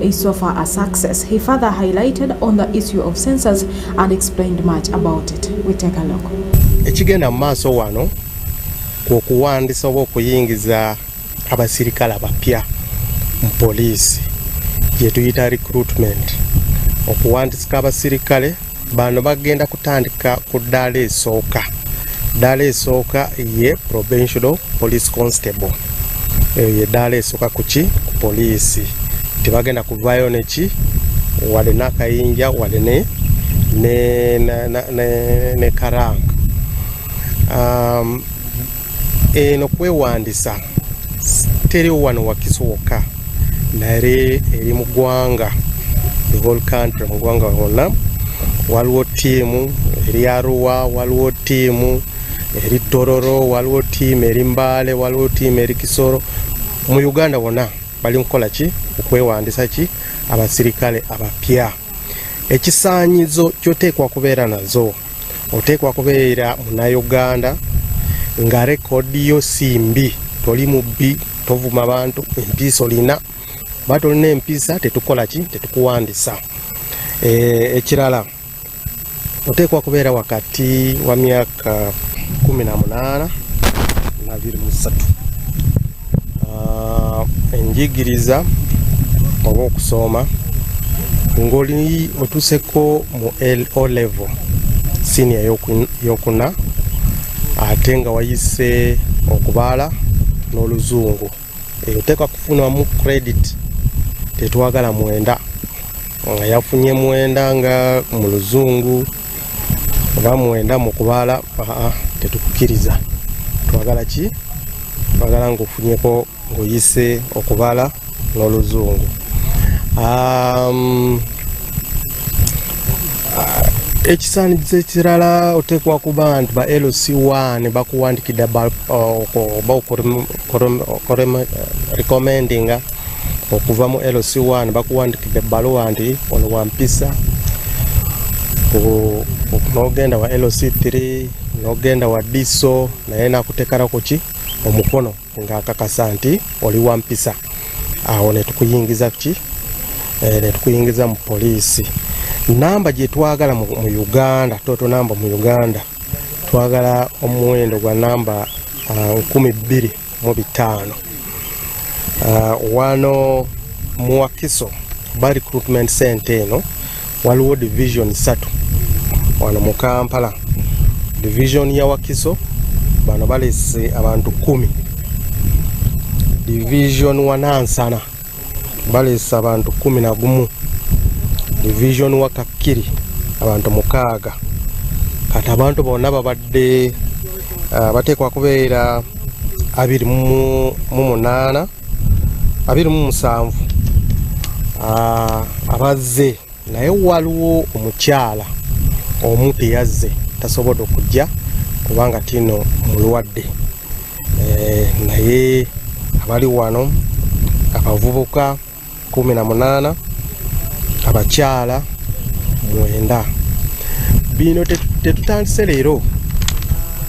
is so far a success. He further highlighted on the issue of sensors and explained much about it. We take a look. Ekigenda mu maaso wano kwe kuwandisa oba okuyingiza abasirikale abapya mu poliisi gye tuyita recruitment okuwandisika abasirikale bano bagenda kutandika ku ddaala esooka ddaala esooka ye provincial police constable eyo ye ddaala esooka kuki ku poliisi tebagenda kuvayo neki wade nakayinja wade ne ne, ne, ne, ne, ne karanga um, eno kwewandisa teri wano wakiso wokka naye eri mu ggwanga the whole country mu ggwanga wonna waliwo tiimu eri aruwa waliwo tiimu eri tororo waliwo tiimu eri mbaale waliwo tiimu eri kisoro mu uganda wonna bali mukukola ki okwewandisa ki abasirikale abapya ekisaanyizo kyoteekwa kubeera nazo oteekwa kubeera munauganda nga rekodi yo si mbi toli mubbi tovuma bantu empiisa olina ba tolina empiisa tetukola ki tetukuwandisa eh, ekirala e, oteekwa kubeera wakati wa myaka 18 na 23 ah, enjigiriza oba okusooma ngoli otuseko mu o level siniya yokuna ate nga wayise okubaala n'oluzungu eyo teka kufunamu credit tetwagala mwenda nga yafunye mwenda nga mu luzungu oba mwenda mu kubala tetukukiriza twagala ki twagala ngaofunyeko ngaoyise okubala n'oluzungu um, ekisaanikizo ekirala oteekwa kuba nti ba lc1 bakuwandikidde uh, oba recommendinga okuva mu LC1 bakuwandikidde ebbaluwa nti ono wampisa nogenda wa LC3 nogenda wa diso naye nakutekala kuki omukono ng'akakasa nti oli wampisa awo netukuyingiza ki eh, netukuyingiza mu poliisi namba gyetwagala mu uganda toto namba mu uganda twagala omuwendo gwa namba uh, nkumi bbiri mu bitaano uh, wano mu wakiso ba recruitment center eno waliwo division satu wano mu kampala division ya wakiso bano balese abantu kumi division wanansana baleese abantu kumi na gumu division wa kakkiri abantu mukaaga kati abantu bonna babadde ah, bateekwa kubeera abiri mu munaana abiri mu musanvu ah, abazze naye waliwo omukyala omu teyazze tasobodde okujja kubanga tino mulwadde eh, naye abali wano abavubuka kumi na munaana abakyala mwenda bino tetutandise leero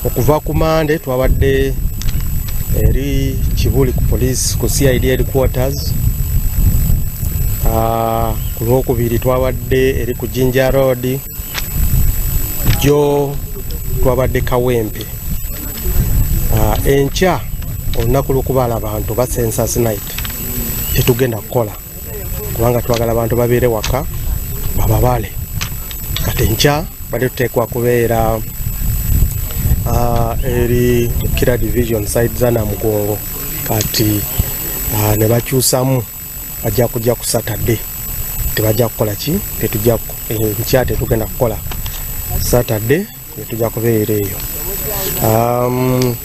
okuva ku mande twabadde eri kibuli ku poliisi ku cid headquarters ah, Ku lwokubiri twabadde eri ku Jinja Road, jjo twabadde Kawempe. Ah, enkya olunaku lw'okubaala abantu ba census night tetugenda kukola kubanga twagala abantu babeere waka bababale kati enkya bade tuteekwa kubeera ah, eri kira division side zanamugongo kati ah, ne bakyusamu bajja kujja ku saturday tebajja kukola ki tetujja enkya eh, tetugenda kukola saturday netujja kubeera eyo um,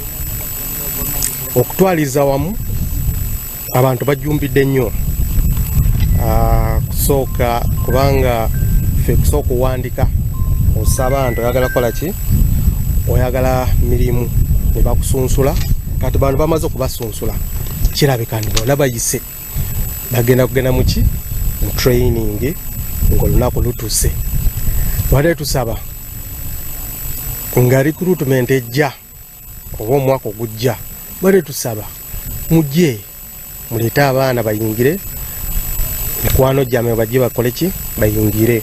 okutwaliza wamu abantu bajumbidde nnyo uh, kusooka kubanga fe kusooka kuwandika osaba nti oyagala kukola ki oyagala mirimu nebakusunsula kati bantu bamaze okubasunsula sula kirabika nti bona bayise bagenda kugenda muki mu training ngaolunaku lutuse wade tusaba nga recruitment ejja oba omwaka ogujja wade tusaba mujje muleete abaana bayingire mikwano gyame bajje bakoleki bayingire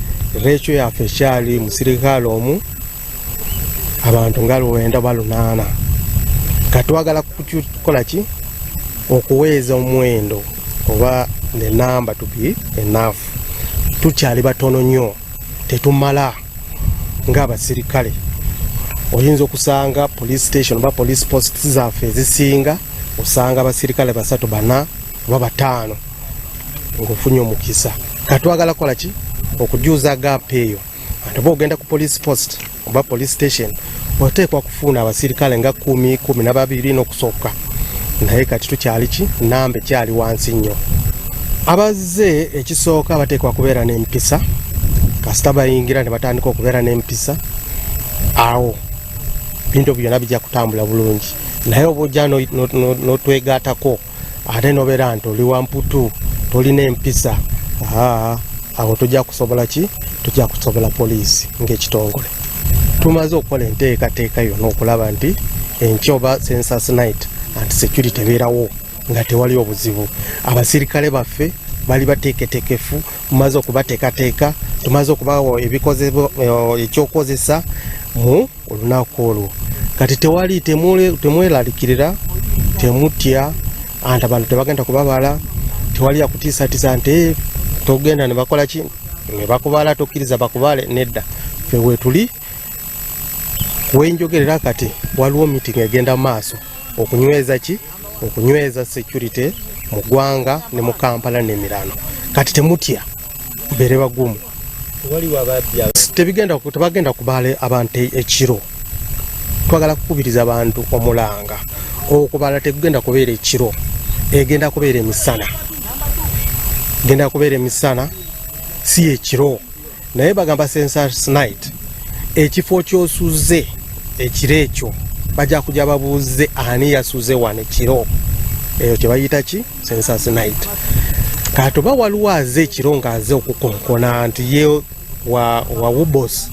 Recho yaffe ekyali mu sirikaale omu abantu nga luwenda oba lunaana nga twagala kukola ki okuweeza omuwendo oba ne namba tubi enaafu tukyali batono nnyo tetumala ng'abasirikale oyinza okusanga police station oba police post zaffe ezisinga osanga abasirikale basatu bana oba bataano ngaofunye omukisa katwagala kola ki okujuza gap eyo ate oba ogenda ku police post oba police station oteekwa kufuuna abasirikale nga kumi kumi nababiri nokusooka naye kati tukyali ki namba ekyali wansi nnyo abazze ekisooka bateekwa kubeera n'empisa kasita bayingira ne batandika okubeera n'empisa awo bintu byona bijja kutambula bulungi naye oba ojja notwegaatako ate nobeera nti oli wamputu tolina empisa awo tujja kusobola ki tujja kusobola poliisi ngaekitongole tumaze okukola enteekateeka yona okulaba nti enkya oba census night and security tebeerawo nga tewali obuzibu abasirikale baffe bali bateeketekefu mumaze okubateekateeka tumaze okubawo eh, ekyokukozesa mu olunaku olwo kati tewali temwelalikirira temutya anti abantu tebagenda kubabala tewali yakutiisatiisa nti eh, togenda nebakola ki nebakubala tokkiriza bakubale nedda fe wetuli wenjogerera kati waliwo meeting egenda maaso okunyweza ki okunyweza security mu gwanga ne mu kampala nemirano kati temutya bere bagumu waliwo ababbi tebigenda tebagenda kubala abantu e-, ekiro twagala kukubiriza abantu omulanga okubala tegugenda kubeera ekiro egenda kubeera emisana genda kubeera emisana si ekiro naye bagamba sensors night ekifo kyosuze ekiro ekyo bajja kuja babuuze ani yasuze wano ekiro eyo kyebayita ki census night kati oba waliwo aze ekiro nga aze okukonkona nti ye wawubos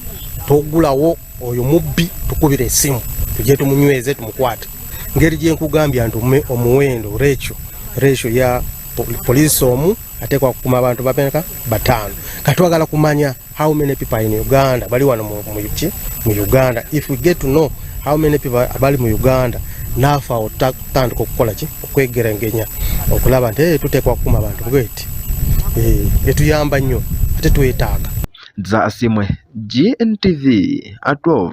togulawo oyo mubbi tukubira esimu tujye tumunyweze tumukwate ngeri gyenkugambya nti omuwendo rekyo rekyo ya poliisi omu ateekwa kukuma abantu bameneka bataano katwagala kumanya how many people are in Uganda bali wano mu yuki mu Uganda if we get to know how many people abali mu Uganda nafa otandika okukola ki okwegerengenya okulaba nti eh, tuteekwa kukuma abantu bweti eh, etuyamba nnyo ate twetaaga za asimwe GNTV 12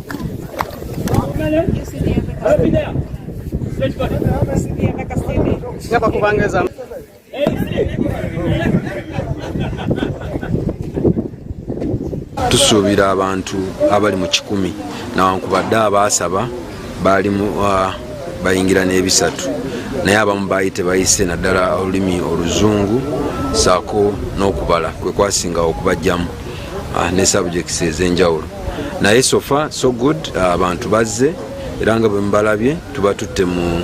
tusuubira abantu abali mu kikumi nawankubadde abaasaba baalimu uh, bayingira n'ebisatu naye abamu baali tebayise naddala olulimi oluzungu saako n'okubala kwe kwasinga okubajjamu uh, ne sabujekisi ez'enjawulo naye sofa so good abantu bazze era nga bwemubalabye tubatutte mu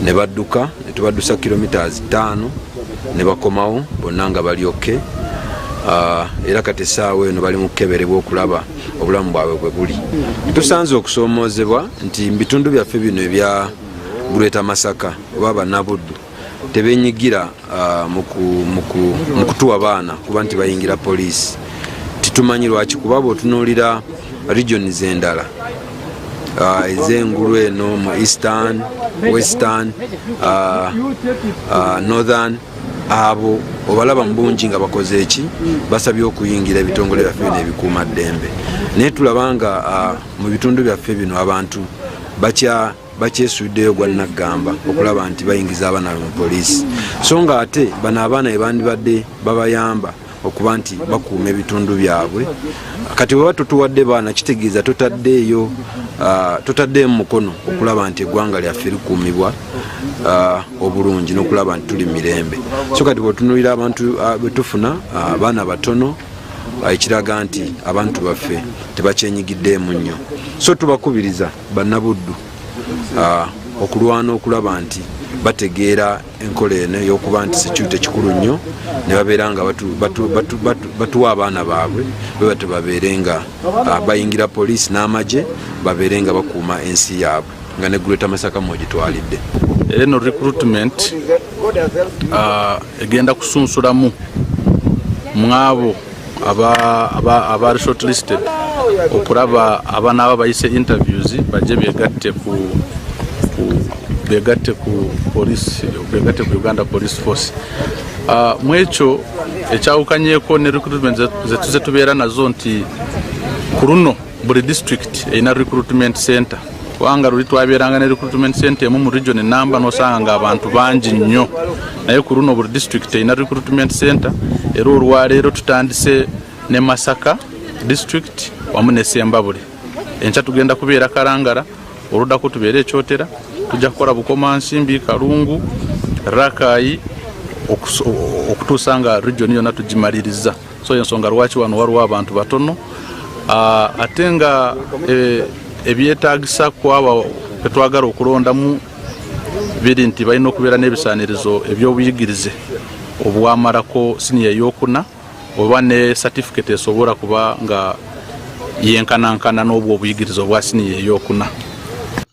ne badduka ne tubaddusa kilometres ttaano ne bakomawo bonna nga bali oke ah, era kati essaawa eno bali mu kukeberebwa okulaba obulamu bwabwe bwe buli tusanze okusoomoozebwa nti mu bitundu byaffe bino ebya greater masaka oba banabuddu tebenyigira Ah, mu kutuwa baana kuba nti bayingira poliisi titumanyi lwaki kuba bwotunuulira regions endala ah, ezengulu eno mu eastern western ah, northern abo obalaba mubungi nga bakoze eki basabye okuyingira ebitongole byaffe bino ebikuuma ddembe naye tulaba nga mu bitundu byaffe bino abantu bakya bakyesuddeyo gwa naggamba okulaba nti bayingiza abaana be mu poliisi so nga ate bano abaana bebandibadde babayamba okuba nti bakuuma ebitundu byabwe kati weba tutuwadde baana kitegeeza totaddeeyo ah, totaddeyo mukono okulaba nti eggwanga lyaffe likuumibwa ah, obulungi n'okulaba nti tuli mirembe so kati bwetunulira abantu ah, betufuna abaana batono ekiraga nti abantu baffe tebakyenyigiddeemu nnyo so tubakubiriza bannabuddu ah, okulwana okulaba nti bategeera enkola eno eyokuba nti security kikulu nnyo ne babeera nga batuwa abaana baabwe bebate babeere nga ah, bayingira poliisi n'amagye babeere nga bakuuma ensi yaabwe nga ne gureta masaka mwogitwalidde eno recruitment ah, egenda kusunsulamu mwabo abaali shortlisted okulaba abanaaba bayise interviews bajje begatte ku begatte ku police begatte ku uganda police force ah, mu ekyo ekyawukanyeko ne recruitment zetuze tubeera nazo nti ku luno buli district erina recruitment center kubanga luli twabeeranga ne recruitment center emu mu region enamba nosanga nga abantu bangi nnyo naye ku luno buli district erina recruitment center era olwaleero tutandise ne masaka district wamu ne sembabule enkya tugenda kubeera kalangala oludako tubeere ekyotera tujja kukola bukomansimbi kalungu rakayi okutuusa nga region yonna tugimaliriza so yensonga lwaki wano waliwo abantu batono ah, ate nga eh, ebyetagisa kwaba betwagala okulondamu biri nti balina okubeera n'ebisanirizo ebyobuyigirize obwamalako siniya eyokuna oba ne satifiketi esobola kuba nga yenkanankana n'obwo obuyigirize obwa siniya eyokuna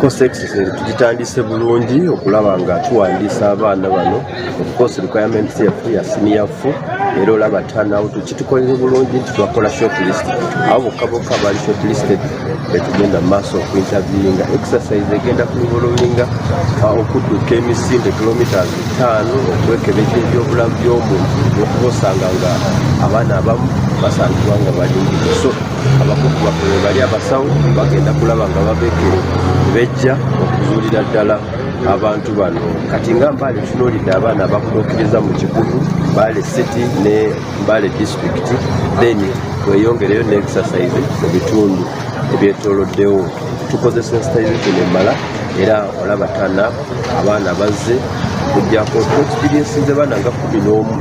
course exercise tugitandise bulungi okulaba nga tuwandiisa abaana bano ofcourse requirements yaffe ya siniyafu era olaba tanawo tukitukolere bulungi nti twakola short list abo bokka bokka baali short listed betugenda mu maaso okuinterviewinga exercise egenda kulivolowinga uh, okudduka emisinde kilometres ttaano okwekebeza ebyobulamu by'omuntu okuba osanga nga abaana abamu basangibwa nga balingi so abakugu baffe bebali abasawo bagenda kulaba nga babekere bejja okuzuulira ddala abantu bano kati nga mbaale tunoolidde abaana abakutuukiriza mu kikutu mbaale city ne mbaale district then tweyongereyo ne exercise mu bitundu ebyetoloddewo tukoze sensitization emmala era olaba tana abaana bazze kujjako tuexperiensinze baana nga kumi n'omu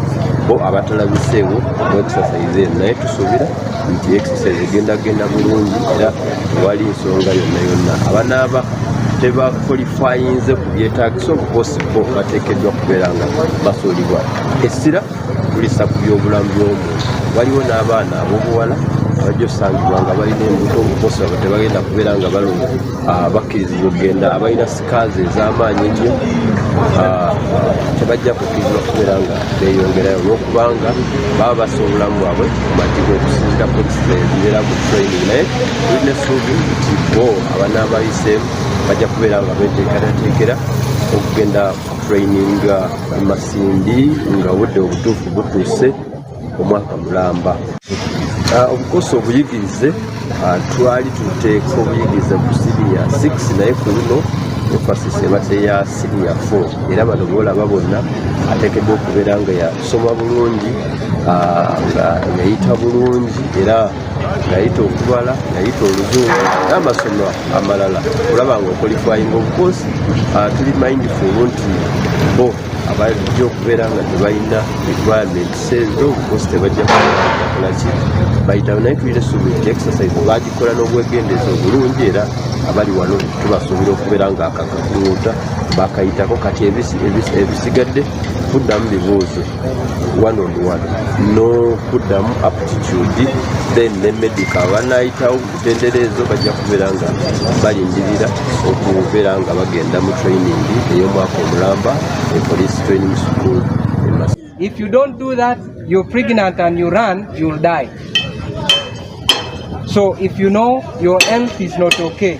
bo abatalabiseewo mu exercise eno naye tusuubira nti exercise egenda genda bulungi era wali nsonga yonna yonna abanaaba tebakolifayinze ku byetagisa okuposibwa bateekeddwa kubeera nga basuulibwa essira kulisa ku byobulamu byomuntu waliwo n'abaana abobuwala abajja osangibwa nga balina embuto okuposibwa batebagenda kubeera nga balungi Ah, bakkirizibwa okugenda abalina sikaazi ez'amaanyi ennyo ah, tebajja kukkirizibwa kubeera nga beeyongerayo olwokubanga baba basa obulamu bwabwe mumatiga okusinzira kunsina ezibeera ku training naye tulina essuubi nti bo abanaabayiseemu bajja kubeera nga beteekerateekera okugenda training masindi nga obudde obutuufu butuuse omwaka mulamba ah, obukosa obuyigirize ah, twali tuteeka obuyigirize ku siniya 6 naye ku luno emphasis ebadde ya siniya 4 era bano boolaba bonna ateekeddwa okubeera nga yasoma bulungi ah, nga yayita bulungi era ngayita okubala ngayita oluzungu n'amasomo amalala olaba nga okolifayinga obukosi tuli mindful nti bo abajja okubeera nga tebalina requirement sente obukosi tebajja kukolaki bayitaba naye tulina essuubi nti exercise bagikola n'obwegendeeza obulungi era abali wano tubasuubira okubeera nga akakakuuta bakayitako kati ebisigadde kuddamu bibuuzo one on one n'okuddamu aptitude then ne medical banayitawo bendera ezo bajja kubeera nga balindirira okubeera nga bagenda mu training ey'omwaka omulamba e police training school if you don't do that you're pregnant and you run you'll die so if you know your health is not okay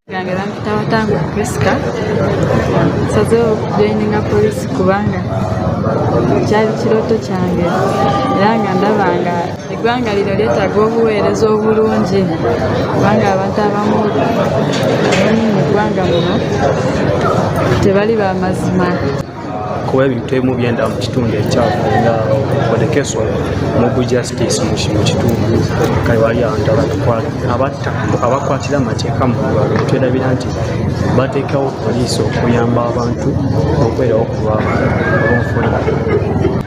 yange bampita watangu prisca nsazewo okujoininga polisi kubanga kyali kirooto kyange era nga ndaba nga eggwanga lino lyetaaga obuweereza obulungi kubanga abantu abamu mu ggwanga muno tebali bamazima kuba ebintu ebimu byenda mu kitundu ekyafu nga odekeso mugu justice mu kitundu kale wali abantu abatta abakwatira amateeka mu lwalo netwerabira nti bateekawo poliisi okuyamba abantu okwerawo ku lwabonfuna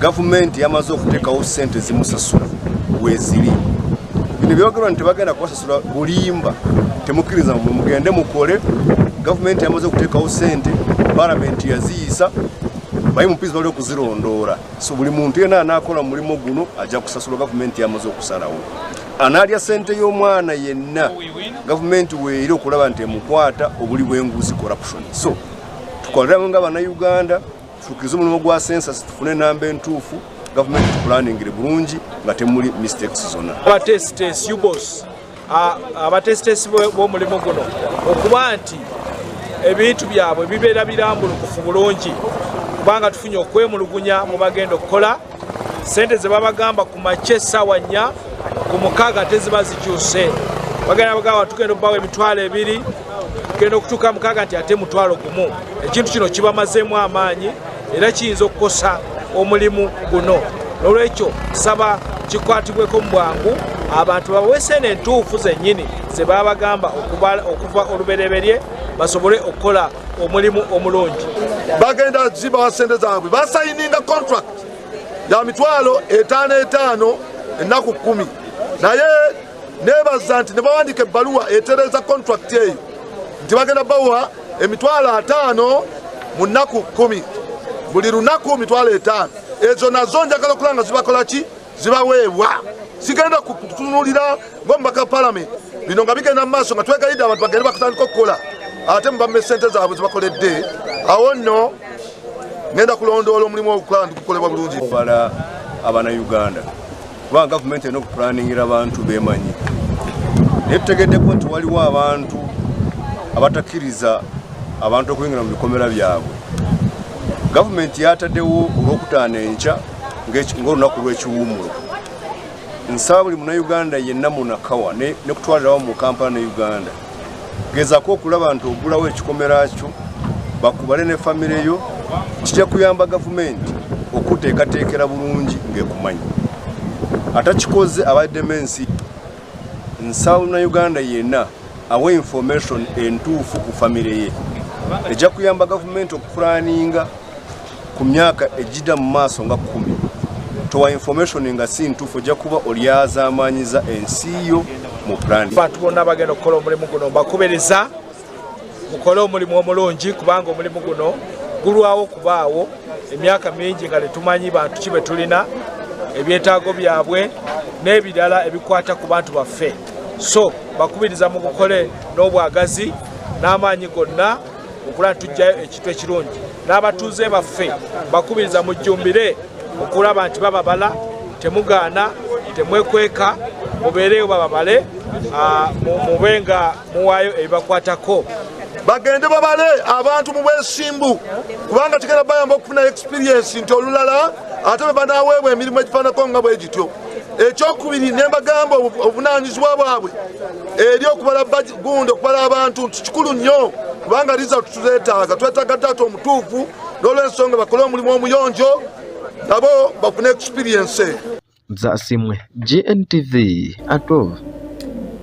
gavumenti yamaze okuteekawo sente zimusasula weziri bino byogerwa nti tebagenda kubasasula bulimba temukkiriza mwe mugende mukole gavumenti yamaze okuteekawo sente palamenti yaziyisa bayi mupizi bali okuzirondoola so buli muntu yena anaakola mulimu guno ajja kusasula gavumenti yamaze okusalawo anaalya sente y'omwana yenna gavumenti weeri okulaba nti emukwata obuli bwenguzi corruption so tukoleramu nga banauganda tutuukirize omulimu gwa sensasi tufune enamba entuufu gavumenti tukulaningire bulungi nga temuli mistakes zonna abatesitesi ubos abatesitesi b'omulimu guno okuba nti ebintu byabwe bibeera birambulukufu bulungi kubanga tufunye okwemulugunya mu bagenda okukola sente ze babagamba ku makye essaawa nnya ku mukaaga teziba zikyuse bagenda bagamba tugenda okubawa emitwalo ebiri genda okutuuka mukaaga nti ate mutwalo gumu ekintu kino kibamazeemu amaanyi era kiyinza okukosa omulimu guno nolwekyo saba kikwatibweko mu bwangu abantu baweese eno entuufu zennyini ze babagamba okuva olubereberye basobole okukola omulimu omulungi bagenda zibawa sente zaabwe basayininga contract ya mitwalo etaano etaano ennaku kkumi naye nebaza nti nebawandika ebbaluwa etereza contract eyo nti bagenda bawa emitwalo ataano mu nnaku kumi buli lunaku mitwalo etaano ezo nazo njagala okulaba nga zibakola ki zibaweebwa sigenda kutunulira ngomubaka palamenti bino nga bigenda mu maaso nga twegayidde abantu bagende bakutandika okukola ate mubame sente zaabwe zibakoledde awo nno ngenda kulondoola omulimu ogukola ndi gukolebwa bulungi obala abana uganda kuba gavumenti erina okupulaningira abantu bemanyi naye tutegeddeko nti waliwo abantu abatakkiriza abantu okuyingira mu bikomera byabwe gavumenti yataddewo olwokutaano enkya ngaolunaku lw'ekiwumulo nsaba buli munauganda yenna munakawa nekutwalirawo mu kampala ne uganda gezako okulaba nti ogulawo ekikomera kyo bakubale ne famire yo kijja kuyamba gavumenti okuteekateekera bulungi ng'ekumanyi atakikoze abaddemu ensi nsawuna uganda yenna awa information entuufu ku famire ye ejja kuyamba gavumenti okupulaninga ku myaka ejjida mu maaso nga kumi towa information nga si ntuufu ojja kuba olyazaamaanyiza ensi yo mu plan bantu bonna bagenda okukola omulimu guno mbakubereza mukole omulimu omulungi kubanga omulimu guno gulwawo okubaawo emyaka mingi nga tetumanyi bantu ki betulina ebyetaago byabwe n'ebirala ebikwata ku bantu baffe so bakubiriza mugukole n'obwagazi n'amaanyi gonna okulaba tujjayo ekintu ekirungi n'abatuuze baffe bakubiriza mujjumbire okulaba nti bababala temugaana temwekweka mubeereyo bababale ah, mube nga muwaayo ebibakwatako bagende babale abantu mu bwesimbu kubanga kigenda bayamba okufunayo experiensi nti olulala ate bwe banaweebwa emirimu egifaanako nga bwe gityo ekyokubiri ne mbagamba obuvunaanyizibwa bwabwe eri okubala gundi okubala abantu nti kikulu nnyo kubanga liza tuzeetaaga twetaaga taata omutuufu n'olwensonga bakole omulimu omuyonjo nabo bafune experience zasimwe GNTV atov